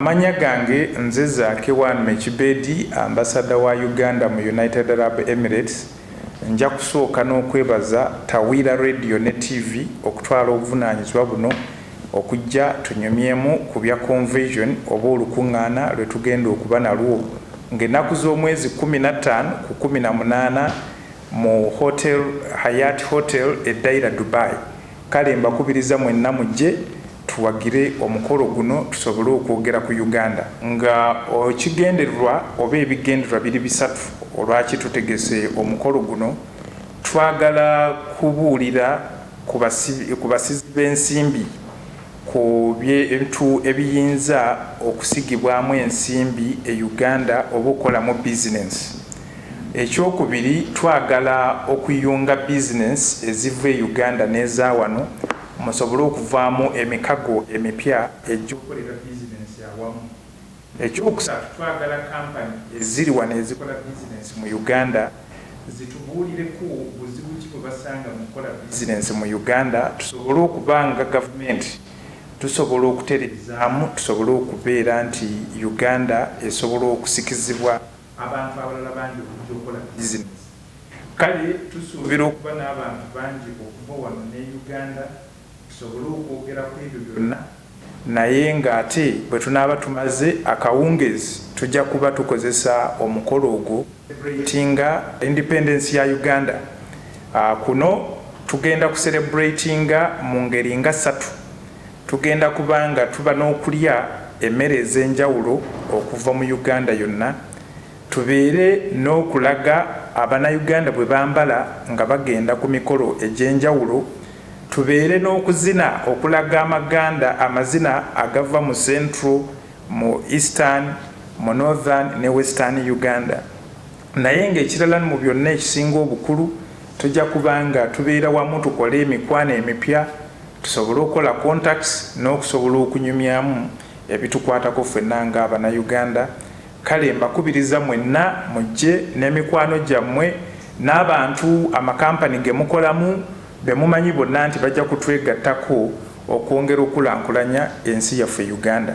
Amanya gange nze Zaake One Mekibedi Ambassador wa Uganda mu United Arab Emirates. Nja kusooka n'okwebaza Tawiira Radio ne TV okutwala obuvunaanyizibwa buno okujja tunyumyemu ku bya Convesion oba olukungaana lwe tugenda okuba nalwo ng'ennaku z'omwezi kkumi na ttaano ku kkumi na munaana mu Hotel Hayat Hotel e Daira Dubai. Kale mbakubiriza mwenna mujje Tuwagire omukolo guno tusobole okwogera ku Uganda. Nga ekigendererwa oba ebigendererwa biri bisatu olwaki tutegese omukolo guno, twagala kubuulira ku basizi b'ensimbi ku bintu ebiyinza okusigibwamu ensimbi e Uganda oba okukolamu bizinensi. Ekyokubiri twagala okuyunga bizinensi eziva e Uganda n'eza wano. musobole okuvaamu emikago emipya egy'okukolera bizinensi awamu. Ekyokusatu, twagala kampani eziri wano ezikola bizinensi mu Uganda zitubuulireko buzibu ki bwe basanga mu kukola bizinensi mu Uganda tusobole okuba nga gavumenti tusobola okutereezaamu tusobole okubeera nti Uganda esobola okusikizibwa abantu abalala bangi okujja okukola bizinensi. Kale tusuubira okuba n'abantu bangi okuva wano ne Uganda tusobole okwogera ku ebyo byonna naye ng'ate bwe tunaaba tumaze akawungeezi tujja kuba tukozesa omukolo ogwo okuserebuleyitinga Independence ya Uganda. Kuno tugenda kuserebuleyitinga mu ngeri nga ssatu, tugenda kuba nga tuba n'okulya emmere ez'enjawulo okuva mu Uganda yonna Tubeere n'okulaga abanauganda bwe bambala nga bagenda ku mikolo egy'enjawulo, tubeere n'okuzina okulaga amaganda amazina agava mu central, mu eastern, mu northern ne western Uganda naye nga ekirala mu byonna ekisinga obukulu tujja kuba nga tubeera wamu tukole emikwano emipya tusobole okukola contacts n'okusobola okunyumyamu ebitukwatako ffenna nga abanauganda. Kale mbakubiriza mwenna mujje n'emikwano gyammwe n'abantu amakampani ge mukolamu be mumanyi bonna nti bajja kutwegattako okwongera okukulankulanya ensi yaffe Uganda.